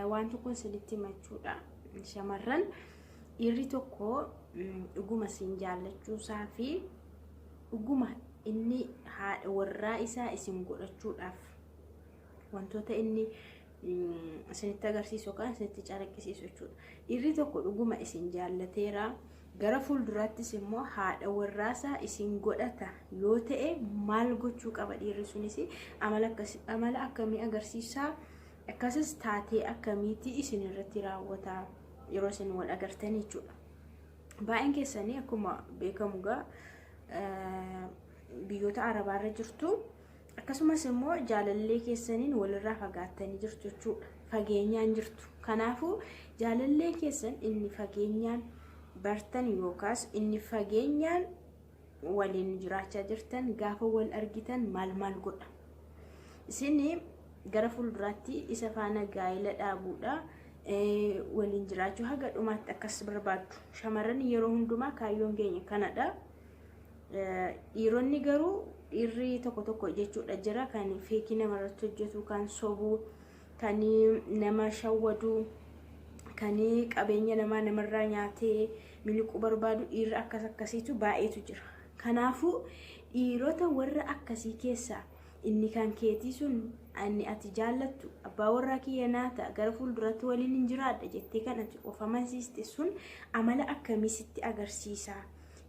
Waan tokko isinitti himachuudha. Shamarran dhiirri tokko dhuguma isin jaallachuusaa fi dhuguma inni haadha warraa isaa isin godhachuudhaaf wantoota inni isinitti agarsiisu yookaan isinitti calaqqisiisu jechuudha. Dhiirri tokko dhuguma isin jaallateera. Gara fuulduraattis immoo haadha warraasaa isin godhata yoo ta'e maal gochuu qaba dhiirri sunis amala akkamii agarsiisaa Akkasis taatee akkamiitii isin irratti raawwataa yeroo isin wal agartan jechuudha. Baay'een keessanii akkuma beekamu gaa biyyoota arabaarra jirtu akkasumas immoo jaalallee keessaniin walirraa fagaattanii jirtu jechuudha. Fageenyaan jirtu. Kanaafuu jaalallee keessan inni fageenyaan bartan yookaas inni fageenyaan waliin jiraachaa jirtan gaafa wal argitan maal maal godha isin gara fuulduraatti isa faana gaa'ela dhaabuudha eh, waliin jiraachuu haga dhumaatti akkas barbaaddu shamarran yeroo hundumaa kaayyoon keenya kanadha Eh, dhiironni garuu dhiirri tokko tokko jechuudha jira kan feekii namarratti hojjetu kan sobuu kan nama shawwadu kan qabeenya namaa namarraa nyaatee miliquu barbaadu dhiirri akkas akkasiitu baay'eetu jira. Kanaafuu dhiirota warra akkasii keessaa inni kan keetii sun inni ati jaallattu abbaa warraa kiyya naa ta'a gara fuulduraatti waliin hin jiraadha jettee kan ati of amansiiste sun amala akkamii sitti agarsiisa?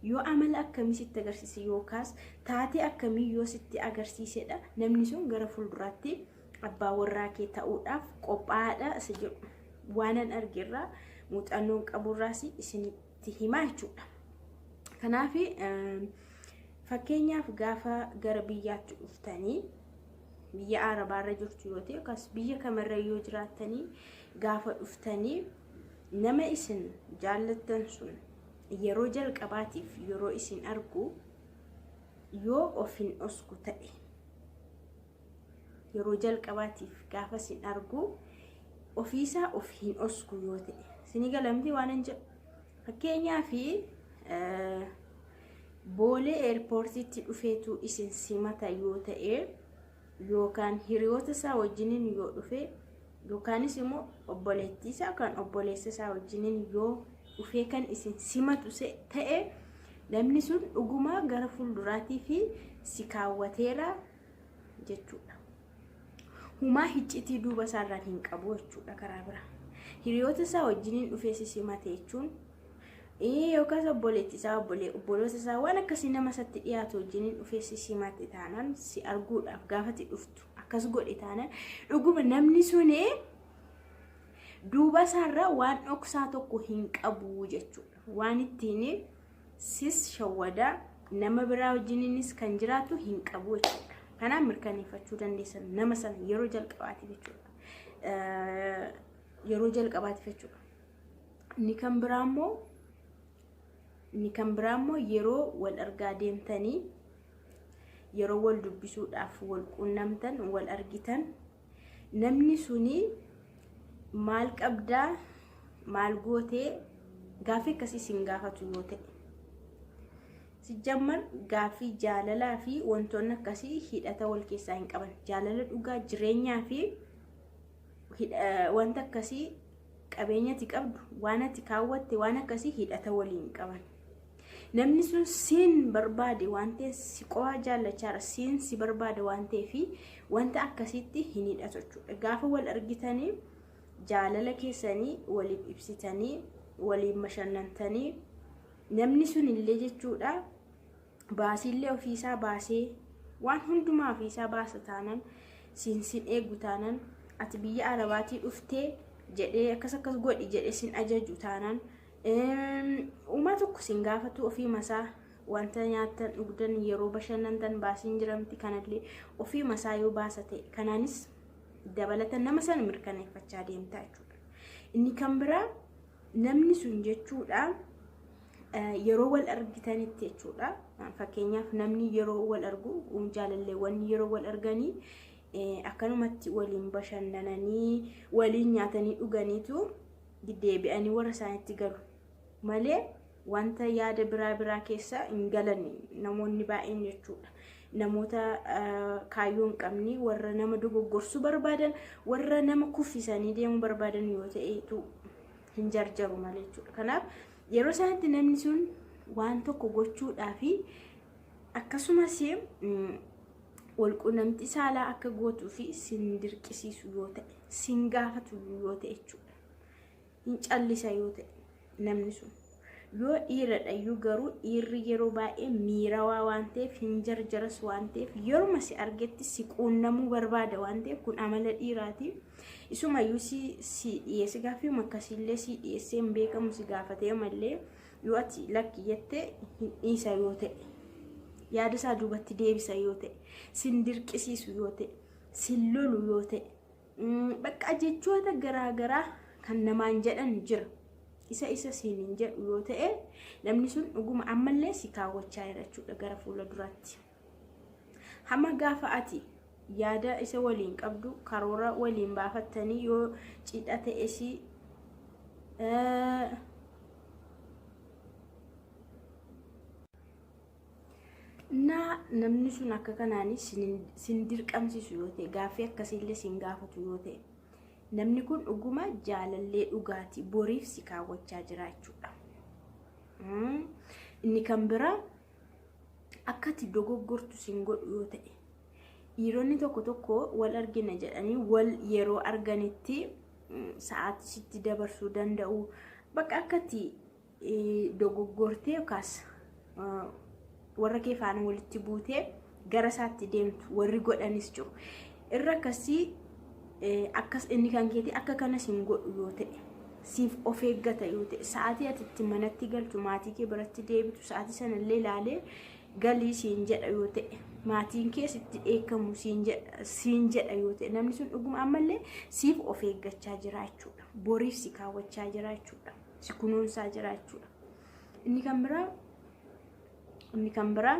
Yoo amala akkamii sitti agarsiise yookaas taatee akkamii yoo sitti agarsiisedha namni sun gara fuulduraatti abbaa warraa kee ta'uudhaaf qophaa'aadha isa jedhu waanan argerraa muuxannoon qaburraas isinitti himaa jechuudha. Kanaaf fakkeenyaaf gaafa gara biyyaatti dhuftanii biyya Arabaarra jirtu yoo ta'e yookaas biyya kamirra yoo jiraattanii gaafa dhuftanii nama isin jaallattan sun yeroo jalqabaatiif yeroo isin argu yoo of hin dhosku ta'e yeroo jalqabaatiif gaafa sin argu ofiisaa of hin osku yoo ta'e sinii galamti waan hin jedhu fakkeenyaa fi boolee eerpoortiitti dhufeetu isin simata yoo ta'e yookaan hiriyoota isaa wajjiniin yoo dhufe yookaanis immoo obboleettii isaa yookaan obboleessa isaa wajjiniin yoo dhufee kan isin simatu ta'e namni sun dhugumaa gara fuulduraatii fi si kaawwateera jechuudha. Humaa hiccitii duuba isaarraan hin qabu jechuudha karaa biraa. Hiriyoota isaa wajjiniin dhufee sisimate jechuun yookaas obboleetti isaa obboloota isaa waan akkasii nama isatti dhiyaatu wajjiniin dhufee sisimate taanaan si arguudhaaf gaafati dhuftu akkas godhe taanaan dhuguma namni suni duuba isaarraa waan dhoksaa tokko hin qabu jechuudha. Waan ittiin sis shawwadaa nama biraa wajjininis kan jiraatu hin qabu jechuudha. Kanaaf mirkaneeffachuu dandeessan nama sana yeroo jalqabaatiif jechuudha. Yeroo jalqabaatiif jechuudha. Inni kan biraa immoo inni kan biraa immoo yeroo wal argaa deemtanii yeroo wal dubbisuudhaaf wal quunnamtan wal argitan Namni suni maal qabdaa maal gootee gaaffii akkasii siin gaafatu yoo ta'e. Sijjammar gaaffii jaalalaa fi wantoonni akkasii hidhata wal keessaa hin qaban. Jaalala dhugaa jireenyaa fi wanta akkasii qabeenyati qabdu waan ati kaawwatte waan akkasii hidhata waliin qaban. Namni sun siin barbaade waan ta'eef si qofaa jaallachaara siin si barbaada waan ta'eef wanta akkasiitti hin hidhatu jechuudha. Gaafa wal argitanii jaalala keessanii waliif ibsitanii waliin bashannantanii namni sun illee jechuudha baasiillee ofiisaa baasee waan hundumaa ofiisaa baasa taanan siin sin eegu taanan ati biyya arabaatii dhuftee jedhee akkas akkas godhi jedhee sin ajaju taanan. Uumaa tokko sin gaafatu ofii masaa wanta nyaattan dhugdan yeroo bashannantan baasiin jira miti kanallee ofii masaa yoo baasa ta'e kanaanis dabalata nama sana mirkaneeffachaa deemta jechuudha. Inni kan biraa namni sun jechuudha yeroo wal argitanitti jechuudha. Fakkeenyaaf namni yeroo wal argu jaalalleewwan yeroo wal arganii akkanumatti waliin bashannananii waliin nyaatanii dhuganiitu deebi'anii warra isaanitti galu malee wanta yaada biraa biraa keessa hin galan namoonni baay'een jechuudha. Namoota kaayyoo hin qabne warra nama dogoggorsuu barbaadan warra nama kuffisanii deemuu barbaadan yoo ta'etu hin jarjaru malee jechuudha. Kanaaf yeroo isaanitti namni sun waan tokko gochuudhaa fi akkasumas walqunnamtii saalaa akka gootuu fi sin dirqisiisu yoo ta'e sin gaafatu yoo ta'e jechuudha hin callisa yoo ta'e namni sun yoo dhiiradha iyyuu garuu dhiirri yeroo baay'ee miirawaa waan ta'eef hin jarjaras waan ta'eef yeruma si argetti si quunnamuu barbaada waan ta'eef kun amala dhiiraati isumayyuu si si dhiyeesse gaaffii akkasiillee si dhiyeessee hin beekamu si gaafatee mallee yoo ati lakki jettee hin dhiisa yoo ta'e yaada isaa duubatti deebisa yoo ta'e sin dirqisiisu yoo ta'e sin lolu yoo ta'e mm, bakka jechoota garaagaraa kan namaan jedhan jira isa isa siin hin jedhu yoo ta'e namni sun dhuguma ammallee si kaawwachaa jira jechuudha gara fuula duraatti. Hamma gaafa ati yaada isa waliin qabdu karoora waliin baafattanii yoo cidha ta'es na namni sun akka kanaanis sin dirqamsiisu yoo ta'e gaaffii akkasiillee sin gaafatu yoo ta'e namni kun dhuguma jaalallee dhugaati boriif si kaawwachaa jira jechuudha. Inni kan biraa akkati dogoggortu sin godhu yoo ta'e dhiironni tokko tokko wal argina jedhanii wal yeroo arganitti sa'aatii sitti dabarsuu danda'u bakka akkati dogoggortee yookaas warra kee faana walitti buutee gara isaatti deemtu warri godhanis jiru irra akkasii akkas inni kan keetii akka kanas hin godhu yoo ta'e siif of eeggata yoo ta'e sa'aatii ati itti manatti galtu maatii kee biratti deebitu sa'aatii sanallee ilaalee galii siin jedha yoo ta'e maatiin kees itti dheekkamu siin jedha yoo ta'e namni sun dhuguma ammallee siif of eeggachaa jiraachuudha boriif si kaawwachaa jiraachuudha si kunuunsaa jiraachuudha inni kan biraa inni kan biraa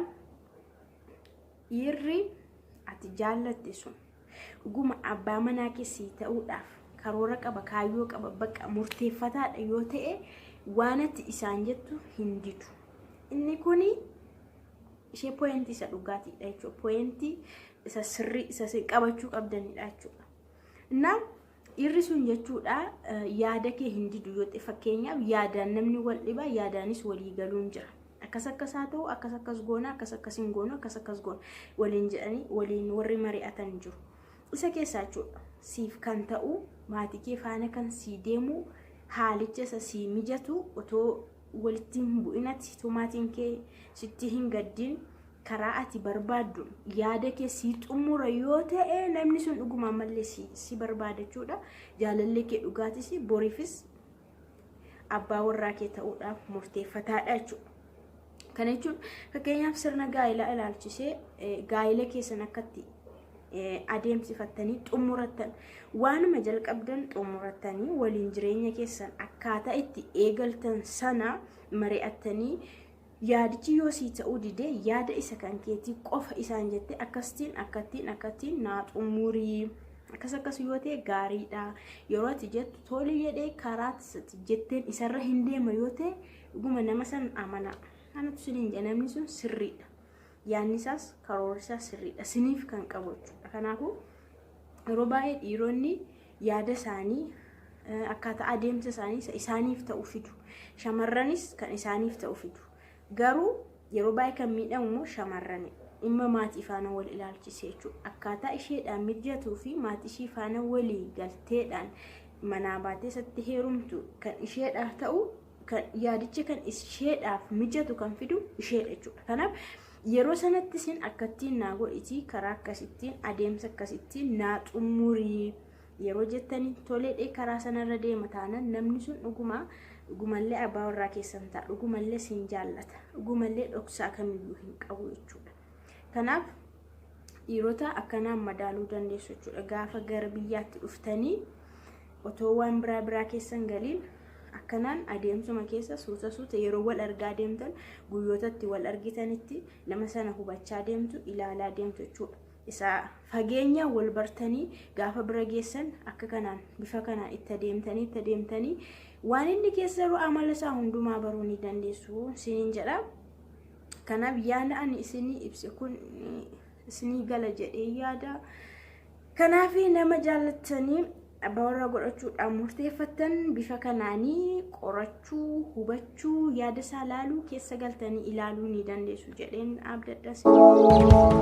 Dhiirri ati jaallatte sun dhuguma abbaa manaa keessii ta'uudhaaf karoora qaba, kaayyoo qaba, bakka murteeffataadha yoo ta'e waan ati isaan jettu hin didu. Inni kun ishee pooyintii isa dhugaatiidha jechuudha. Pooyintii isa sirrii isa qabachuu qabdanidha jechuudha. Innaa Dhiirri sun jechuudha yaada kee hin didu yoo ta'e fakkeenyaaf yaadaan namni wal dhibaa yaadaanis walii galuun jira. Akkas akkas haa ta'u akkas akkas goona akkas akkas hin goonu akkas akkas goona waliin jedhanii waliin warri mari'atan jiru. Isa keessaa jechuudha siif kan ta'u maatii kee faana kan sii deemu haalicha isa sii mijatu otoo walitti hin bu'inatti otoo maatiin kee sitti hin gaddiin karaa ati barbaaddu yaada kee sii xumura yoo ta'e namni sun dhuguma ammallee si, si barbaada jechuudha jaalallee kee dhugaatis boriifis abbaa warraa kee ta'uudhaaf murteeffataadha jechuudha. Kana jechuun fakkeenyaaf sirna gaa'ilaa ilaalchisee eh, gaa'ila keessan akkatti eh, adeemsifattanii xumurattan waanuma jalqabdan xumurattanii waliin jireenya keessan akkaataa itti eegaltan sana mari'attanii Yaadichi yoo sii ta'uu dide yaada isa kan keetii qofa isaan jettee akkasitiin akkattiin akkattiin naa xumurii akkas akkas yoo ta'e gaariidha yeroo ati jettu tole jedhee karaa jetteen isarra hin deema yoo ta'e dhuguma nama san amanaa kanatu siniin jedha namni sun sirriidha yaadni isaas karoorri isaas sirriidha siniif kan qabu jechuudha kanaafuu yeroo baay'ee dhiironni yaada isaanii akkaataa adeemsa isaanii isa isaaniif ta'u fidu. Shamarranis kan isaaniif ta'u fidu. Garuu yeroo baay'ee kan miidhamu immoo shamarrani. Dhimma maatii faana wal ilaalchisee jechuudha. Akkaataa isheedhaan mijatuu fi maatii ishii faana walii galteedhaan manaa baatee isatti heerumtu kan isheedhaa ta'u kan yaadicha kan isheedhaaf mijatu kan fidu isheedha jechuudha. Kanaaf yeroo sanatti isin akkattiin naa godhiti karaa akkasittiin adeemsa akkasittiin naa xumurii yeroo jettanii toleedhee karaa sanarra deema taanan namni sun dhuguma dhugumallee abbaa warraa keessan ta'a dhugumallee siin jaallata dhugumallee dhoksaa kamiyyuu hin qabu jechuudha. Kanaaf dhiirota akkanaan madaaluu dandeessu jechuudha. Gaafa gara biyyaatti dhuftanii Otoo waan biraa biraa keessa hin galiin akkanaan adeemsuma keessa suuta suuta yeroo wal argaa deemtan guyyoota itti wal argitanitti nama sana hubachaa deemtu ilaalaa deemtu jechuudha. Isa fageenya wal bartanii gaafa bira geessan akka kanaan bifa kanaan itti adeemtanii itti adeemtanii waan inni keessa jiru amala isaa hundumaa baruu ni dandeessu isiniin jedha. Kanaaf yaada ani isinii ibse kun isinii gala jedhee yaada. Kanaaf nama jaallattanii abbaa warraa godhachuudhaan murteeffattan bifa kanaanii qorachuu, hubachuu, yaada isaa laaluu keessa galtanii ilaaluu ni dandeessu jedheen abdadha.